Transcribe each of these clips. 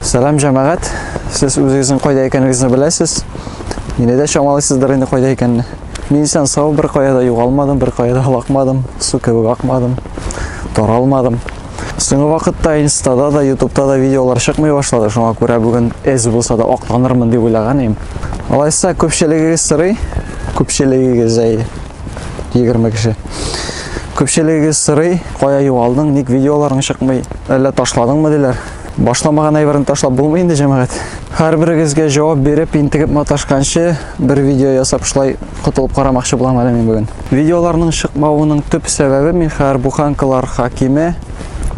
Сәлам җәмәгать. Сез үзегезнең кайда икәнегезне беләсез. Мине дә чамалыйсыздыр инде кайда икәнне. Мин исән сау бер кая да югалмадым, бер кая да лакмадым, су кебек акмадым, таралмадым. Соңгы вакытта инстада да, ютубта да видеолар чыкмый башлады, шуңа күрә бүген эз булса да акланырмын дип уйлаган идем. Алайса күпчелегегез сорый, күпчелегегез әйе. 20 кеше. Күпчелегегез сырый, кая югалдың, ник видеоларың чыкмый, әллә ташладыңмы диләр. Башламаган әйберне ташлап булмый инде җәмәгать. Һәрберегезгә җавап биреп, интегеп маташканчы бер видео ясап шулай котылып карамакчы булам әле мин бүген. Видеоларның чыкмавының төп сәбәбе Михар буханкалар хакиме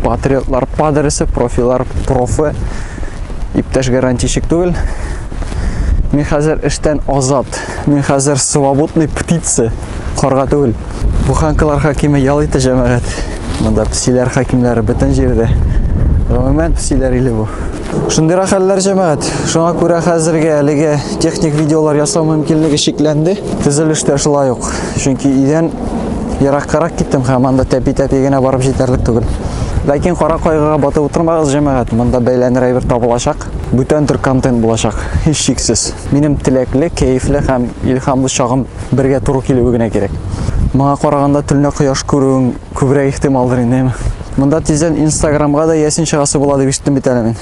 патриотлар падресе, профилар профы, иптәш гарантийщик түгел. Мин хәзер эштән азат. Мин хәзер свободный птица, карга түгел. Буханкалар хакиме ял итә җәмәгать. Монда псиләр хакимләре бөтен җирдә. Гомумән псиләр иле бу. Шундый хәлләр җәмәгать. Шуңа күрә хәзергә әлеге техник видеолар ясау мөмкинлеге шикләнде. Төзелештә шулай ук. Чөнки идән Ераккарак киттем һәм анда тәпи-тәпи генә барып җитәрлек түгел. Ләкин кара кайгыга батып утырмагыз, җәмәгать, монда бәйләнер әйбер табылачак. Бүтән төр контент булачак, һич шиксез. Минем теләкле, кәефле һәм илһамлы чагым бергә туры килүе генә кирәк. Моңа караганда төнлә кояш күрүең күбрәк ихтималдыр инде, әйме? Монда тиздән Инстаграмга да ясин чыгасы була дип ишеттем бит әле мин.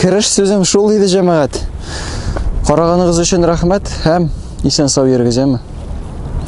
Кереш сүзем шул иде, җәмәгать. Караганыгыз өчен рәхмәт һәм исән сау йөрегез, әмма.